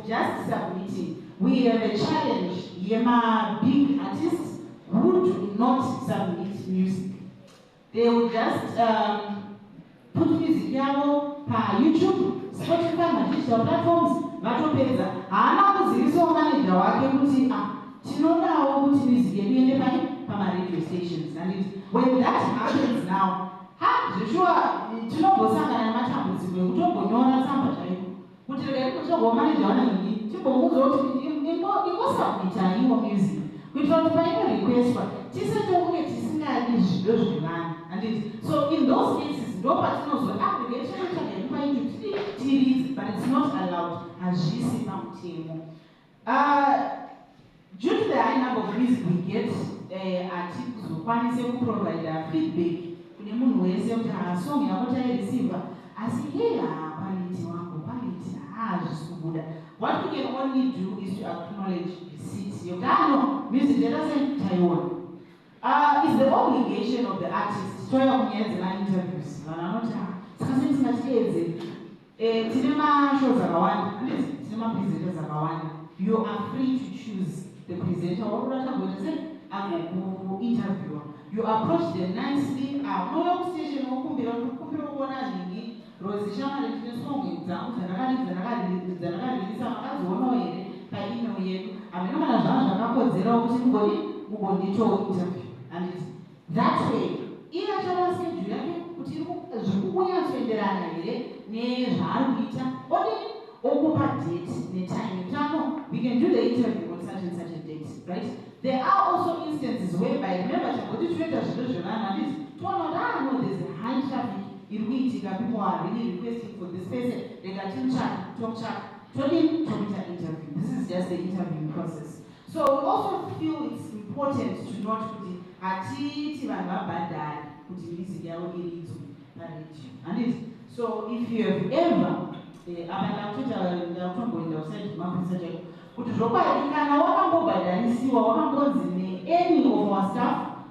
just submitting we have a challenge yema big artists who do not submit music they will just um, put music yavo pa youtube spotify madigital platforms vatopedza haana kuzivisawo manager wake kuti ah, tinodawo kuti music yedu iende pai pamaradio stations and when that happens now Haa zveshuwa tinombosangana nematambudziko ekutongonyora tsamba chaiko kuti regai kutsvagwa maneja wanhingi timbomuudza kuti ingosabmitaiwo music kuitira kuti paino requestwa tise tokunge tisingadi zvido zvevanhu handiti so in those cases ndopatinozo application ah, itsvaga yekupa ichuti tiridzi but its not allowed hazvisi pamutemo Uh, due to the high number of fees we get eh, hatikuzokwanise uh, kuprovider feedback kune munhu wese kuti hasong ah, yako taireceiva asi hei haa quality wangu quality haa ah, zvisi kubuda what we can only do is to acknowledge receipt yokano music yatase taiona uh, is the obligation of the artist toya kunyaya dzema interviews vanhu vanoti ah, saka sendisingatiedze Eh tine ma shows akawanda handiti tine ma presenters akawanda you are free to choose the presenter wakuda tagoita sei agokuinterviewer you approach them nicely ah unouya kustation wokumbira kuti kumbira kuona zvingi rozi shamari ndine song dzangu dzandakaridza ndakaririsa makadzionawo here paemail yedu hameno kana zvanga zvakakodzerawo kuti mugoni mugonditointerview handiti That way iye achaona schedule yake kuti iri ku- zviri kunyatsoenderana here nezvaari kuita odini okupa date netime kuti ano we can do the interview on such and such a date right there are also instances whereby remember chamboti tinoita zvinhu zvevanhu handiti toona kuti ah no there's a high traffic iri kuitika people are really requesting for this person rega timutsvake tomutsvaka todini tomuita interview this is just the interviewing process So we also feel it's important to note kuti hatiiti vanhu vabhadhare kuti music yavo iridzwe paradio handiti so if you have ever eh, apa ndakutoita ndakutomboenda kusaidi mapurisa chaiko kuti zvokwadi kana wakambobhadharisiwa wakambonzi neany of our staff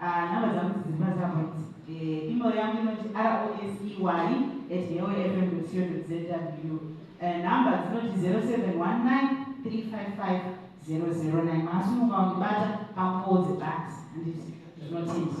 Ah, number dzangu dziri patsamba idzi. Eh, email yangu inoti rosey at heofm.co.zw. Eh, number dzinoti 0719355009. Masi munhu wandibata pakodze basi. Handiti zvinotenda.